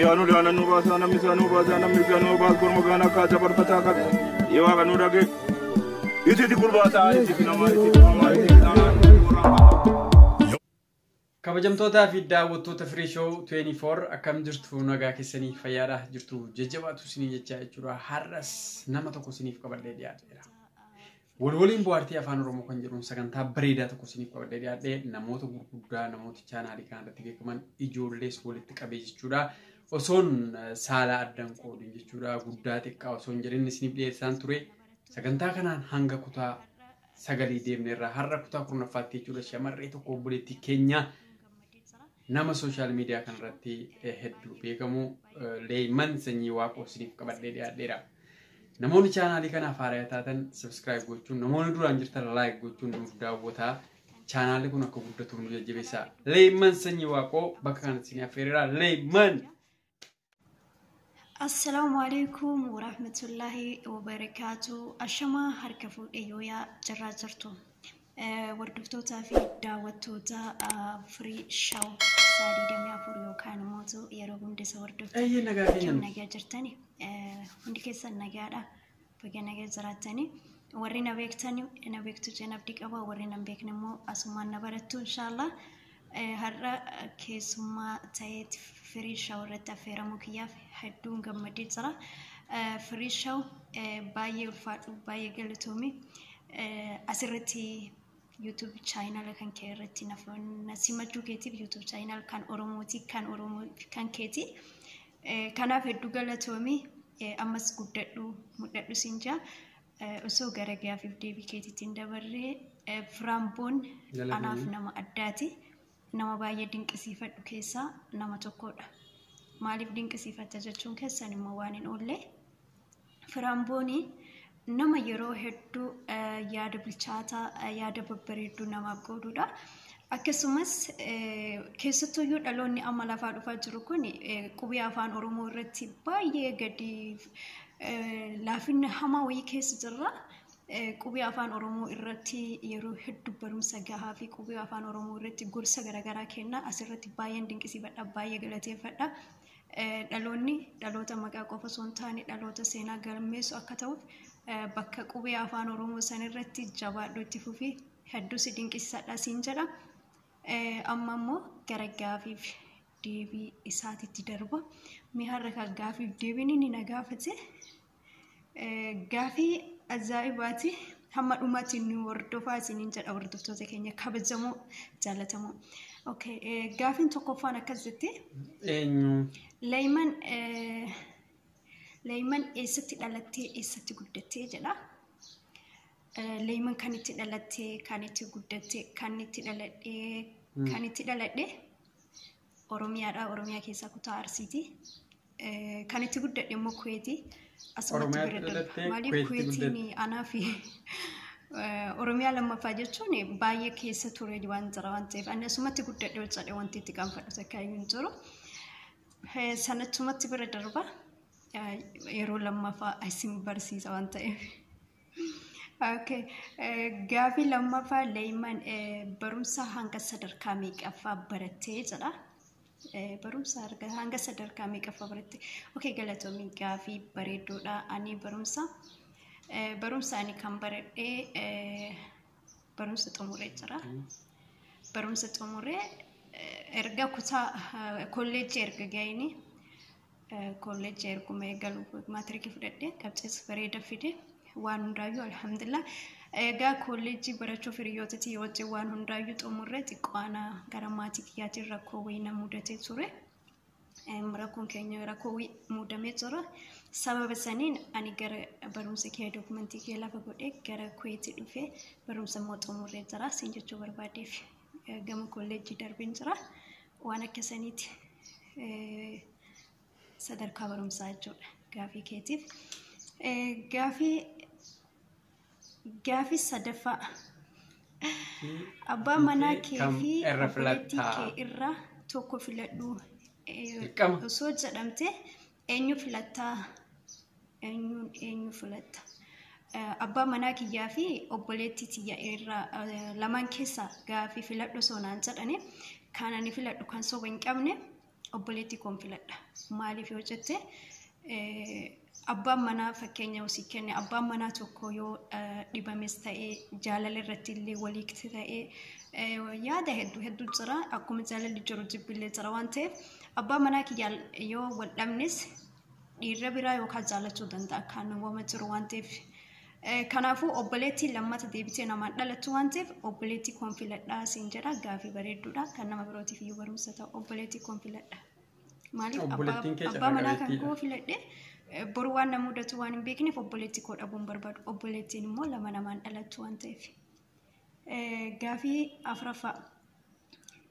Yaanu daana nu baasaa namni isaa nu baasaa namni isaa nu baas korma gaana akka dabarfataa qabe. Yoo waaqa nu dhage. Iti iti gurbaasaa iti iti namaa iti iti namaa iti iti namaa iti iti namaa. Kabajamtootaa fi daawwattoota Free Show 24 akkam jirtu nagaa keessanii fayyaadha jirtu jajjabaatu isinii jechaa jechuudha. Har'as nama tokko isiniif qabadhee dhiyaateera. Walwaliin bohaartii afaan Oromoo kan jedhuun sagantaa bareedaa tokko isiniif qabadhee dhiyaadhee namoota gurguddaa namoota chaanaalii kana irratti beekaman ijoollees walitti qabee jechuudha. Osoon saala addan qoodin jechuudha guddaa xiqqaa osoo hin jedhin isiniif dhiyeessaan ture. Sagantaa kanaan hanga kutaa sagalii deemne irraa har'a kutaa kurnaffaatti jechuudha shamarree tokko obboleettii keenya Nama sooshaal miidiyaa kanarratti hedduu beekamu Leeyman Sanyii Waaqoo isiniif qabadhee dhiyaadheera. Namoonni chaanaalii kanaaf haaraa taatan sabiskiraayib gochuun namoonni duraan jirtan laayik gochuun nuuf daawwataa. Chaanaalli kun akka guddatuuf nu jajjabeessaa. Leeyman Sanyii Waaqoo bakka kanatti isin affeereera. Leeyman! Assalaamu alaikum warahmatullaahi wabarakaatu. Ashamaa harka fuudhee yooyaa jirraa jirtu. Hordoftootaa fi daawwattoota firii shaw isaa 24 yookaan immoo yeroo hunda isa hordoftu. Eeyyee nagaa keenya Akkam nuuf. nagaa jirtani? Hundi keessan nagaadha. Baga nagaa jiraattanii. Warri na beektan na beektu jeen abdii qaba. Warri na hin beekne immoo asumaan na barattu inshaallah. Eh, Har'a keessummaa ta'eet firii shaw irratti affeeramuu kiyyaaf hedduun gammadee jira. Eh, Firii shaw eh, baay'ee ulfaadhu baay'ee galatoomi. Eh, Asirratti YouTube channel kan kee irratti na na simachuu keetiif YouTube channel kan Oromooti kan Oromoo kan keeti. Eh, Kanaaf hedduu galatoomi Eh, ammas guddadhu mul'adhu siin jaa Eh, osoo gara gaafiif deebii keetiitiin dabarree eh, Firaamboon Galatoomi. anaaf nama addaati. nama baay'ee dinqisiifadhu keessaa nama tokkodha. Maaliif dinqisiifatta jechuun keessan immoo waan hin oolle. Firaan boonii nama yeroo hedduu yaada bilchaataa yaada babbareedduu namaaf qoodudha. Akkasumas keessattuyyuu dhaloonni amma lafaa dhufaa jiru kun qubee afaan Oromoo irratti baay'ee gadi laafinna hamaa wayii keessa jirra. Qubee afaan Oromoo irratti yeroo hedduu barumsa gahaa fi qubee afaan Oromoo irratti gorsa garaagaraa kenna. Asirratti baay'een dinqisiifadha, baay'ee galateeffadha. Dhaloonni dhaloota maqaa qofa osoo hin taane dhaloota seenaa galmeessu akka ta'uuf bakka qubee afaan Oromoo san irratti jabaadhu itti fufi hedduu si dinqisiisadha siin jedha. Amma immoo gara gaafiif deebii isaatitti darba. Mee har'a kan gaafiif deebiin inni na gaafate gaafii ajaa'ibaati hamma dhumaatti nu hordofaa isiniin jedha hordoftoota keenya kabajamoo jaalatamoo. Okay, gaafiin tokkoffaan akkas jetti. Eenyu? Leeyman Leeyman eessatti dhalattee eessatti guddattee jedha. Leeyman kan itti dhalattee kan itti guddattee kan itti dhaladhee kan itti dhaladhee Oromiyaadha. Oromiyaa keessaa kutaa Arsiiti. Eh, Kan itti guddadhe immoo Kuweeti. Asumatti Oromiyaatti bira darba. dhalattee Maaliif Kuweetti Kuweetiin guddatte? anaa fi eh, Oromiyaa lammaffaa jechuun baay'ee keessa ture waan jira waan ta'eef ani asumatti guddadhe ol jedhee wanti itti qaanfadhu takka iyyuu hin jiru. Eh, Sanachumatti bira darba. Eh, Yeroo lammaffaa isin barsiisa waan ta'eef. Okay. Gaafii lammaffaa leeyman barumsa hanga sadarkaa meeqaffaa barattee jedha. Barumsa arga- hanga sadarkaa meeqaffaa baratte? Okay, galatoomii gaafii bareedduudha. Ani barumsa eh, barumsa ani kan baradhee eh, barumsa xumuree jira. Barumsa xumuree eh, erga kutaa eh, kolleejjii erga ga'eenii Kolleejji erguma eegalu maatirikii fudhadhee qabxees bareeda fide waan hundaayyuu alhamdulillah. Egaa kolleejjii barachuuf hiriyyootatii wajjin waan hundaayyuu xumurree xiqqoo ana gara maatii kiyyaatiin rakkoo wayii na mudatee ture. Rakkoon keenya rakkoo wayii mudamee jira. Sababa saniin ani gara barumsa kee dokumentii kee lafa godhee gara Kuweetii dhufee barumsa immoo xumurree jira. Siin jechuu barbaadeef gama kolleejjii darbeen jira. waan akka saniiti sadarkaa barumsaa jechuudha gaafii keetiif. Gaafii gaafii sadaffaa abbaa manaa kee fi obboleettii kee irraa tokko filadhu osoo jedhamte eenyu filattaa? Eenyuun eenyu filatta? Abbaa manaa kiyyaa fi obboleettii tiyya irraa lamaan keessaa gaafii filadhu osoo naan jedhani kan ani filadhu kan soba hin qabne obboleettii koon filadha. Maaliif yoo jette abbaan manaa fakkeenya usii kenne abbaan manaa tokko yoo dhibames ta'ee jaalala irratti illee waliigti ta'ee yaada hedduu hedduu jira akkuma jaalalli jiru jibbillee jira waan ta'eef abbaa manaa kiyyaan yoo wal dhabnes dhiirra biraa yookaan jaallachuu danda'a kan wama jiru waan ta'eef. Eh, Kanaafuu obboleettiin lammata deebitee namaan dhalattu waan ta'eef obboleettii koon filadhaa siin jedha gaafii bareedduudha kan nama birootiif iyyuu barumsa ta'u obboleettii koon filadha. Maaliif abbaa Obboleettiin kee abbaa manaa kan carraqabeettiidha. koo filadhe eh, boru waan na mudatu waan hin beekneef obboleettii koo dhabuun barbaadu obboleettiin immoo lama namaan dhalattu waan ta'eef. Eh, Gaafii afraffaa.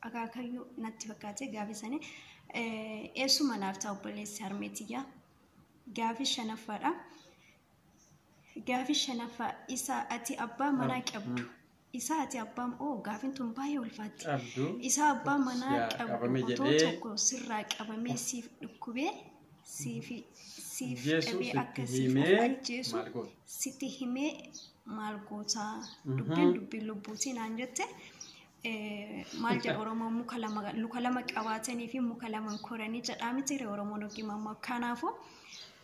akaakayyuu natti fakkaate gaafii sani eessuma naaf ta'a obboleessi harmeetiyyaa gaafii shanaffaadha gaafii shanaffaa isa ati abbaa manaa qabdu isa ati abbaa oo gaafiin tun baay'ee ulfaatti Qabdu. isa abbaa manaa Yaa, qabdu qabame otoo jedhee. tokko sirraa qabamee siif dhukkubee siif siif Jeesuus dhabee itti akka siif himee ajjeesu maal goota? sitti himee maal gootaa dubbiin dubbii lubbuutii naan jette maal jedha Oromoon muka lama luka lama qabaatanii fi muka lama hin koranii jedhaa miti ree Oromoon yookiin ammoo kanaafuu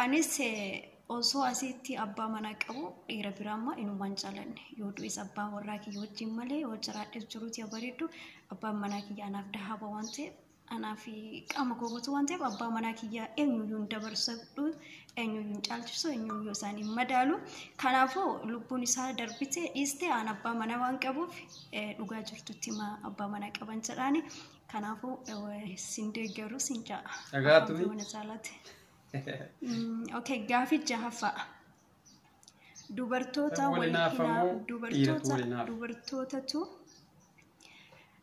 anis eh, osoo asitti abbaa manaa qabu dhiira biraa ammaa inumaan jaalanne yoo du'es abbaa warraa kiyya wajjin malee yoo jiraadhes jiruuti yaa bareeddu abbaan manaa kiyya anaaf dahaaba waan ta'eef Anaa fi qaama koo guutuu waan ta'eef abbaa manaa kiyyaa eenyuyyuu hin dabarsadhu, eenyuyyuu hin caalchisu, eenyuyyuu isaan hin madaalu. Kanaafuu lubbuun isaa darbite dhiiste aan abbaa manaa waan qabuuf eh, dhugaa jirtutti himaa abbaa manaa qaban jedhaani. Kanaafuu eh, sin deeggaru sin ja'a. Dhagaatu. Abbaa mana caalaatti. Mm, Okay, gaafii jahaffaa. dubartoota Wal wal hinaafamu, hinaa dhiiratu dubartoota wal hinaafa. dubartootatu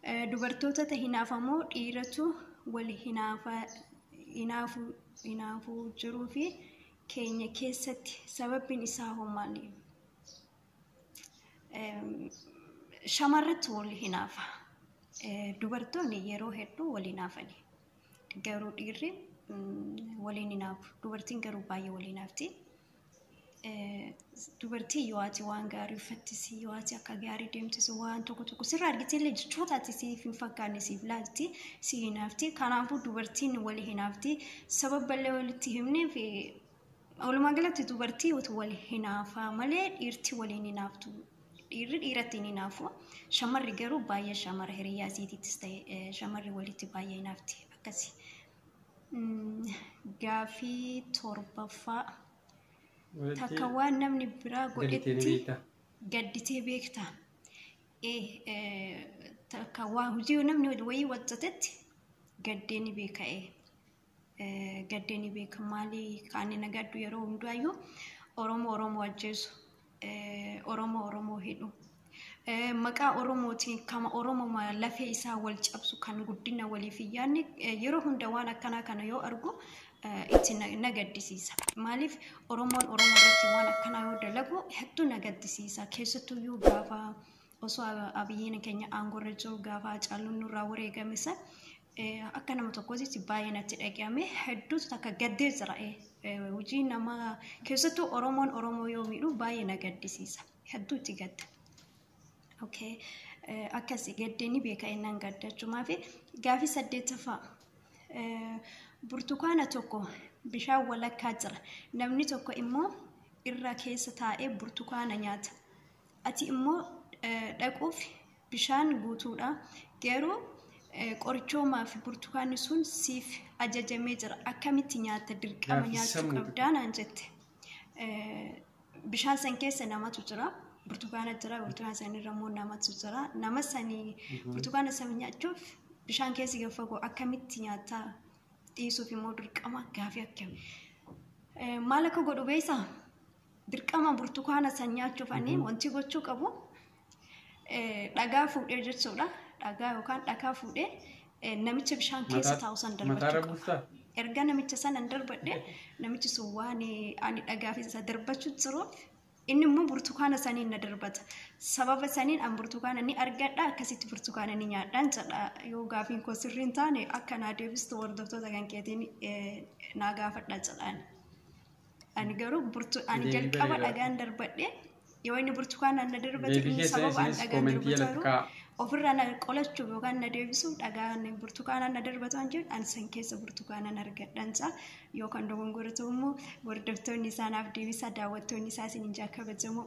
eh, dubartootata hinaafamoo dhiiratu wal hinaafa hinaafu hinaafu jiruu fi keenya keessatti sababbiin isaa hoo maali? Em, Shamarratti wal hinaafa. Eh, Dubartoonni yeroo hedduu wal hinaafani. Garuu dhiirri waliin hin haafu. Dubartiin garuu baay'ee waliin haafti. Dubartii yoo ati waan gaarii uffattisi, yoo ati akka gaarii deemtisi, waan tokko tokko sirraa argitee illee jechoota ati siif hin fakkaanne siif laalti, si hin haafti. Kanaafuu dubartiin wali hin haafti. Sababa illee walitti himneef Walumaa galatti dubartii utuu wal hinaafaa malee dhiirti waliin hinaaftu dhiirri dhiiratti hin hinaafu shamarri garuu baay'ee shamara hiriyaa isiitiittis ta'e shamarri walitti baay'ee hinaafti akkasi. Gaafii torbaffaa takka waan namni biraa godhetti gadditee beekta. Takka waa hojii namni wayii hojjetetti gaddee ni beeka. gaddee ni beeka maali kaanni na gaddu yeroo hundaayyuu Oromoo Oromoo ajjeesu Oromoo Oromoo hidhu maqaa Oromootiin kama Oromoo lafee isaa wal cabsu kan guddina waliif hin yaadne yeroo hunda waan akkanaa kana yoo argu itti na gaddisiisa. Maaliif Oromoon Oromoo irratti waan akkanaa yoo dalagu hedduu na gaddisiisa. Keessattuyyuu gaafa osoo abiyyiin keenya aangorra jiru gaafa hacaaluun nurraa wareegame san akka nama tokkootitti baay'ee natti dhaga'ame hedduutu takka gaddee jira hojii nama keessattuu oromoon oromoo yoo miidhu baay'ee na gaddisiisa hedduutti gadda. Okay. Akkasi gaddee ni beeka innan gadda jechuumaa fi gaafii saddeettaffaa burtukaana tokko bishaan walakkaa jira namni tokko immoo irra keessa taa'ee burtukaana nyaata. ati immoo dhaquuf bishaan guutuudha. Garuu qorichoomaa fi burtukaanni sun siif ajajamee jira. Akkamitti nyaatta dirqama Nyaata nyaachuu sammuu qabdaa naan jette. Bishaan san keessa namatu jira. Burtukaana jira. Burtukaana san irra immoo namatu jira. Nama sanii burtukaana sana nyaachuuf bishaan keessi gad fagoo akkamitti nyaattaa dhiisuuf immoo dirqama gaafii akkami. Maal akka godhu beektaa? dirqama burtukaana san nyaachuuf ani wanti gochuu qabu eh, dhagaa fuudhee jechuudha. Dhagaa yookaan dhakaa fuudhee eh, namicha bishaan keessa Mataa- taa'u san mataarra darbachuu qaba. buustaa? Erga namicha sana hin darbadhe namichi sun waan eh, ani dhagaa fi isa darbachuu jiruuf inni immoo burtukaana saniin na darbata. Sababa saniin an burtukaana ni argadha akkasitti burtukaana ni nyaadhaan jedha. Yoo gaafiin koo sirrii hin taane akka naa deebistu hordoftoota kan keetiin eh, naa gaafadha jedhaan. Ani garuu burtu ani Deebii jalqaba bareedaadha. dhagaan darbadhe yoo inni burtukaanaan na darbate Deebii inni keessa sababa an isinis dhagaan koomentii darbatu jalatti garuu kaa'a. ofirraa na qolachuuf yookaan na deebisuuf dhagaan burtukaanaan na darbatu an jedhu an san keessa burtukaanaan argadhansa yoo kan dogongora ta'u immoo hordoftoonni isaa naaf deebisaa daawwattoonni isaa isin hin kabajamoo.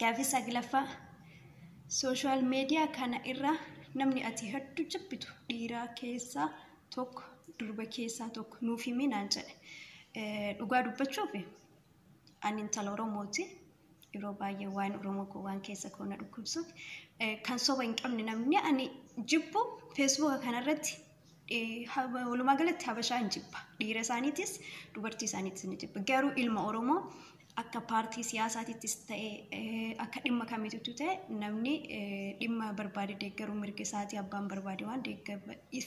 Gaaffii saglaffaa sooshaal meediyaa kana irraa namni ati hedduu jibbitu dhiiraa keessaa tokko durba keessaa tokko nuuf himi naan jedhe. Eh, Dhugaa dubbachuuf ani intala Oromooti. Yeroo baay'ee waan Oromoo koo waan keessa koo na dhukkubsuuf eh, kan soba hin qabne namni ani jibbu feesbuuka kanarratti eh, ha- walumaa galatti habashaa hin jibba. Dhiira isaaniitis dubartii isaaniitis ni jibba. Garuu ilma Oromoo akka paartii siyaasaatittis ta'e akka dhimma kamiituttu ta'e namni dhimma barbaade deeggaruu mirga isaatii abbaan barbaade waan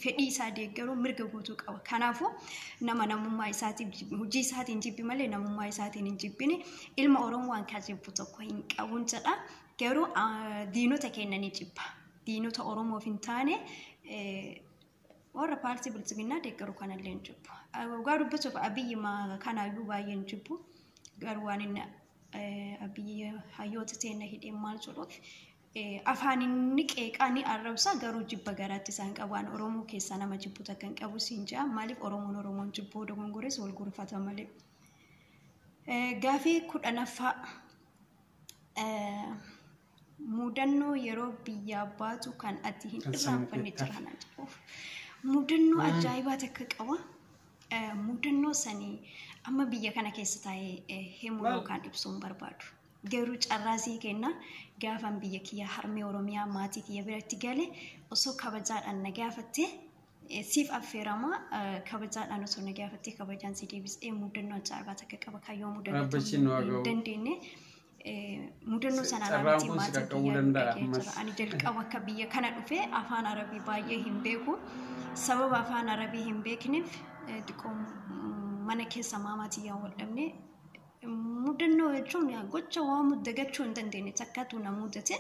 fedhii isaa deeggaruu mirga guutuu qaba. Kanaafuu nama namummaa isaatiin hojii isaatiin jibbi malee namummaa isaatiin hin jibbine ilma Oromoo waan kan jibbu tokko hin qabuun jedha. Garuu diinota keenya ni jibba. Diinota Oromoof hin taane Warra paartii biltsiginnaa deeggaru kanallee hin jibbu. Dhugaa dubbisuuf abiyyi kanaayyuu baay'ee hin jibbu. Garuu waan inni abiyyi hayyoota seenna hidhee maal jedhuuf afaan inni qeeqaa ni arrabsa garuu jibba garaatti isaan qabu. Waan Oromoo keessaa nama jibbu takka hin qabu siin jedha. Maaliif Oromoon Oromoon jibbuu dogongores wal gurfata malee. Gaafii kudhanaffaa Mudannoo yeroo biyyaa baatu kan ati hin irraanfanne jira naan jedhuuf. Mudannoo ajaa'ibaa takka qaba. Mudannoo sanii amma biyya kana keessa taa'ee himuu yookaan ibsuu hin barbaadu. Garuu carraa sii kenna gaafan biyya kiyya harmee Oromiyaa maatii kiyya biratti gale osoo kabajaadhaan na gaafattee siif affeerama kabajaadhaan osoo na gaafattee kabajaan si deebisee mudannoo ajaa'ibaa takka qaba kan yoo mudannoo hin dandeenye. mudannoo sanaan Carraan alattiin kun si maatiin qaqqabuu kiyya danda'a dhaga'ee ammas. jira. Ani jalqaba akka biyya kana dhufe afaan arabii baay'ee hin beeku. Sababa afaan arabii hin beekneef eh, xiqqoo mm, mana keessa maamaatiin yaa wal dhabne. Mudannoo jechuun yaa gocha waan mud- dagachuu hin dandeenye takkaatu na mudate.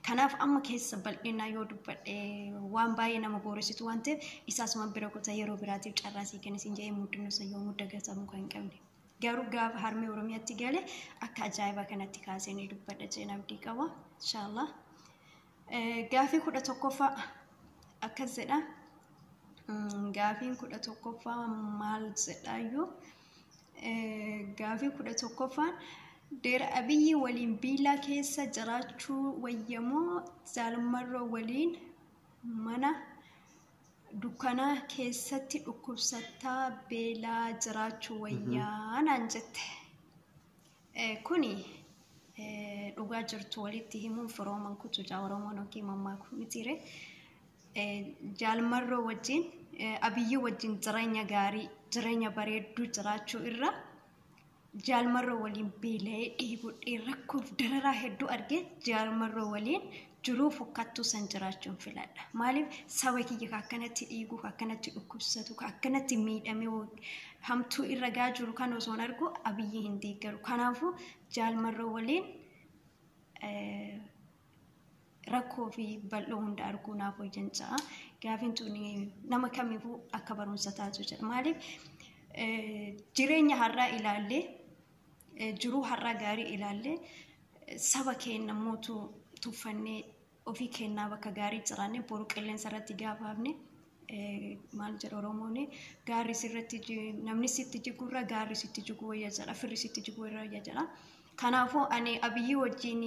Kanaaf amma keessa bal'inaa yoo dubbadhe waan baay'ee nama booressitu waan ta'eef isaas man bira kutaa yeroo biraatiif carraa sii kennisin jedhee mudannoo san yoomuu dagatamuu kan hin qabne. Garuu gaafa harmee Oromiyatti gale akka ajaa'ibaa kanatti kaasee ni dubbadha jeen abdii qaba. Inshaallah. Gaafii kudha tokkoffaa akkas jedha. Gaafiin kudha tokkoffaa maal jedhaayyuu? Gaafii kudha tokkoffaan Deer Abiyyi waliin biilaa keessa jiraachuu wayyamoo zaalmarroo waliin mana dukkana keessatti dhukkubsattaa beelaa jiraachuu wayyaa naan jette. Eh, Kuni eh, dhugaa jirtu walitti himuun firooman kutu jaa Oromoon yookiin mammaakuu mitiire. Eh, Jaalmarroo wajjin eh, Abiyyii wajjin jireenya gaarii jireenya bareedduu jiraachuu irra jaalmarroo waliin beela'ee dheebodhee rakkoof dararaa hedduu argee jaalmarroo waliin jiruu fokkattuu san jiraachuun filadha. Maaliif saba kiyya ka akkanatti dhiigu, ka akkanatti dhukkubsatu, ka akkanatti miidhamee wag- hamtuu irra gaa jiru kan osoon argu abiyyi hin deeggaru. Kanaafuu jaalmarroo waliin eh, rakkoo fi bal'oo hunda arguu naaf wayyan ja'a. Gaafiin tuni nama kamiifuu akka barumsa taatu jedha. Maaliif jireenya har'aa ilaallee jiruu har'aa gaarii ilaallee saba keenya mootu tuffannee ofii keenyaa bakka gaarii jiraannee boru qilleensa irratti gaafa hafne maal jedha Oromoon gaarri sirratti namni sitti jigurra gaarri sitti jiguu wayya jedha firri sitti jiguu irra wayya jedha. Kanaafuu ani Abiyyii wajjin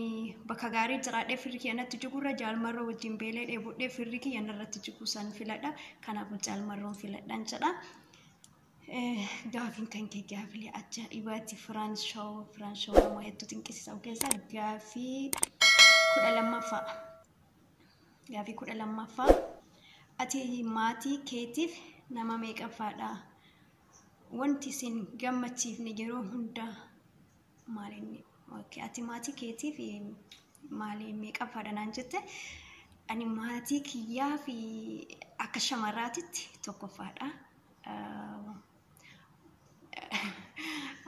bakka gaarii jiraadhee firri kiyya natti jigurra jaalmarroo wajjin beelee dheebudhee firri kiyya narratti jiguu san filadha. Kanaafuu jaalmarroon filadhan jedha. Gaafiin kan kee gaafilee ajaa'ibaati firaan shawoo firaan shawoo nama hedduu xinqisiisa keessaa gaafii kudha lammaffaa. Gaafii kudha lammaffaa. Ati maatii keetiif nama meeqaffaadha? wanti isin gammachiifne yeroo hunda maaliin okay, ati maatii keetiif maaliin meeqaffaadha naan jette ani maatii kiyyaa fi akka shamarraatitti tokkoffaadha.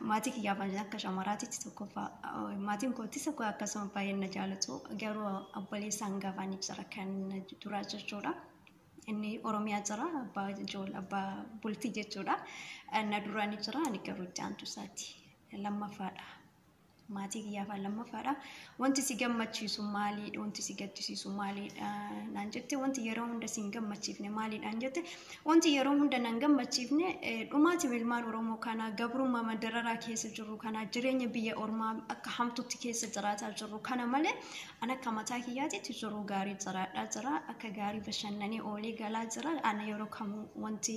Maatii kiyyaaf akka shamarraatitti tokkoffaa maatiin kootis akkasuma baay'een na jaalatu garuu obboleessaan gafaan ibsara kan duraa jechuudha. Inni Oromiyaa jira abbaa ijool abbaa bultii jechuudha. Na dura ni jira ani garuu itti aantu isaati lammaffaadha. Maatii kiyyaafaa lammaffaadha. Wanti si gammachiisu maaliidha? Wanti si gaddisiisu maaliidha? Naan jette wanti yeroo hunda si hin gammachiifne maaliidhaan jette wanti yeroo hunda nan gammachiifne dhumaatiin ilmaan Oromoo kanaa gabrummaa mandararaa keessa jirru kanaa jireenya biyya ormaa akka hamtutti keessa jiraataa jirru kana malee An akka mataa kiyyaatitti jiruu gaarii jiraadhaa jira. Akka gaarii bashannanee oolee galaa jira. Ana yeroo kamuu wanti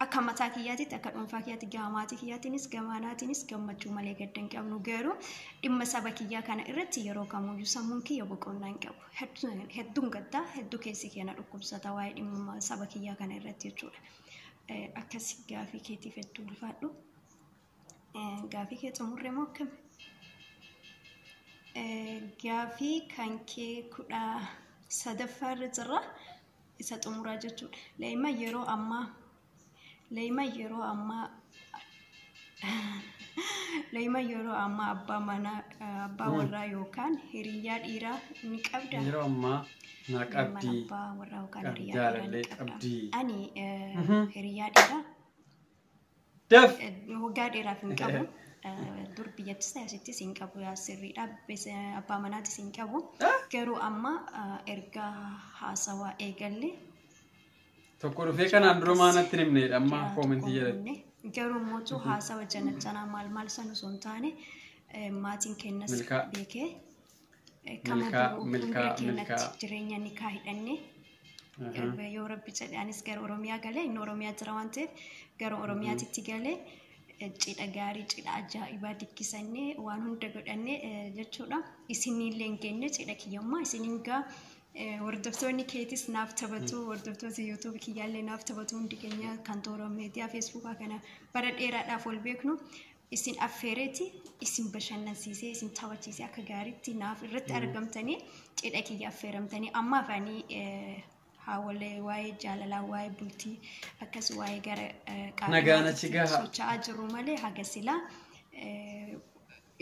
akka mataa kiyyaatitti akka dhuunfaa kiyyaatti gama maatii kiyyaatiinis gama anaatiinis gammachuu malee gadda hin qabnu garuu dhimma saba kiyyaa kana irratti yeroo kamuyyuu sammuun kiyya boqonnaa hin qabu. Hedduun hedduun gaddaa hedduu keessi keenya dhukkubsata waa'ee dhimma saba kiyyaa kana irratti jechuudha. Akkasi gaafii keetiif hedduu ulfaadhu. Gaafii kee xumurre moo akkami? Gaafii kan kee kudha sadaffaa irra jirra isa xumuraa jechuudha. Leeyima yeroo ammaa leeyima yeroo ammaa leeyima yeroo ammaa abbaa manaa abbaa warraa yookaan hiriyyaa dhiiraa ni qabdaa? Yeroo ammaa naa Mana qabdii. abbaa warraa yookaan Qabdi hiriyyaa dhiiraa ni jaalallee qabdaa? qabdii. Ani eh, hiriyyaa dhiiraa Daf. Waggaa dheeraaf hin qabu. Dur biyyattis ta'e asittis hin qabu yaa sirriidha. Abbaa manaatis hin qabu. Garuu amma erga haasawaa eegalle. Tokko dhufee kanaan dura maanatti himneedha amma koomentii jedhatti. Garuu mootuu haasawa janachanaa maal maal san osoo hin taane maatiin kennas beekee Kama Milkaa- biroo milkaa- fuuldura keenyatti milkaa. jireenya nikaa hidhannee Aha. yoo rabbi jedhe anis gara oromiyaa galee inni oromiyaa jira waan ta'eef gara oromiyaatitti galee eh, cidha gaarii cidha ajaa'ibaa dikkisannee waan hunda godhannee eh, jechuudha isinillee hin geenye cidha kiyyammaa isin hingaa eh, hordoftoonni keetis naaf taphatu hordoftoota yuutuubi kiyyaallee naaf taphatu hundi keenya kan toora miidiyaa feesbuukaa kana bara dheeraadhaaf wal beeknu isin affeereeti isin bashannansiisee isin taphachiisee akka gaariitti naaf irratti argamtanii cidha kiyya affeeramtanii amma afaanii haawalee waa'ee jaalalaa waa'ee bultii akkas waa'ee gara Nagaan achi gaha. socho'aa jiru malee haga silaa eh,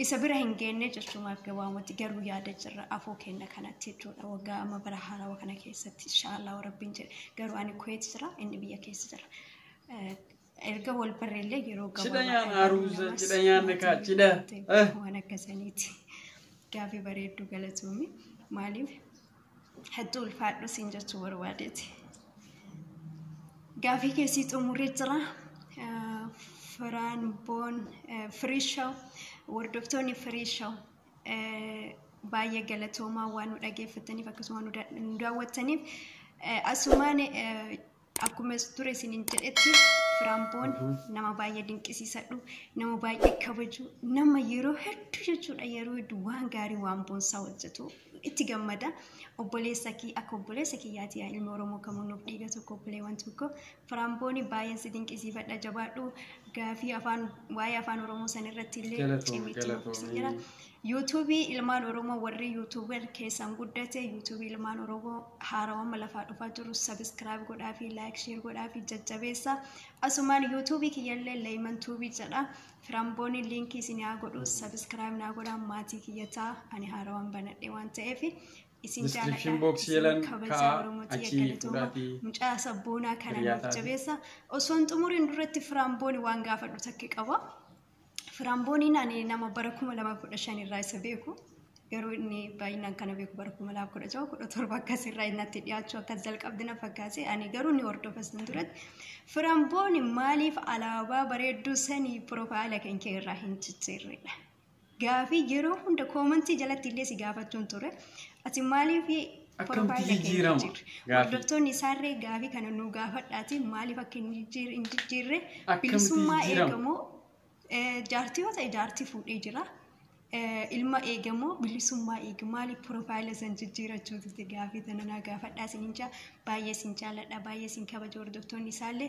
isa bira hin geenne jechuumaaf gabaamatti garuu yaada jirra afoo kenna kanatti jechuudha waggaa amma bara haarawa kana keessatti inshaallah rabbiin jedhe garuu ani kuweet jira inni biyya keessa jira Eh, Erga wal barreellee yeroo gabaabaa. Cidha nyaanaa ruuza cidha nyaanna kaa cidha. Waan akkasaniiti. Gaafii bareedduu galatoomii. Maaliif hattuu ulfaadhu siin jechuu barbaadeeti. Gaafii keessii xumurree jira. Firaan boon firii shaw hordoftoonni firii shaw baay'ee galatoomaa waan nu dhageeffataniif akkasuma nu daawwattaniif asumaan Akkuma dura isinin jedhetti Firaamboon nama baay'ee dinqisiisadhu, nama baay'ee kabaju, nama yeroo hedduu jechuudha yeroo hedduu waan gaarii waan boonsaa hojjetu itti gammada. Obboleessa kee akka obboleessa kiyyaati yaa ilma Oromoo kamuu nuuf dhiiga tokko obboleewwan tokko. Firaamboon baay'een si dinqisiifadha jabaadhu gaafii afaan waa'ee afaan Oromoo san irratti illee Galatoomi, cimee itti galatoomi. nuuf jira. YouTube ilmaan Oromoo warri YouTube keessan guddate YouTube ilmaan Oromoo haarawama lafaa dhufaa jiru subscribe godhaa fi like share godhaa fi jajjabeessa asumaan YouTube kiyyallee Leeyman Tuubii jedha firambooni liinkii isin haa godhu subscribe naa godhaa maatii kiyyataa ani haarawan banadhe waan ta'eef isin Description box jaaladha yelan isin kabajaa ka'a, Oromoo tiyya achii galatooma fudhaatii mucaa sabboonaa kana nuuf hiriyaataa fi- jabeessa osoo hin xumuriin duratti firambooni waan gaafadhu takka qaba. Firaambooniin ani nama bara 2015 irraa isa beeku garuu inni baay'inaan kana beeku bara 2016 17 akkas irraa innatti dhiyaachuu akkas jalqabdi na fakkaate ani garuu ni hordofas hin turetti firambooni maaliif alaabaa bareedduu sanii piroofaayila kan kee irraa hin cicciirredha gaafii yeroo hunda koomantii jalatti illee si gaafachuun ture ati maaliif Akkamti jijjiirama? Hordoftoonni isaarree gaafii kana nu gaafadhaati maaliif akka hin jijjiirre bilisummaa eegamoo jaartii yoo ta'e jaartii fuudhee jira. ilma eegamoo bilisummaa eega maaliif piroofaayila san jijjiirachuu turte gaafii tana naa gaafadhaa isin jaa baay'ee isin jaaladha baay'ee isin kabaja hordoftoonni isaallee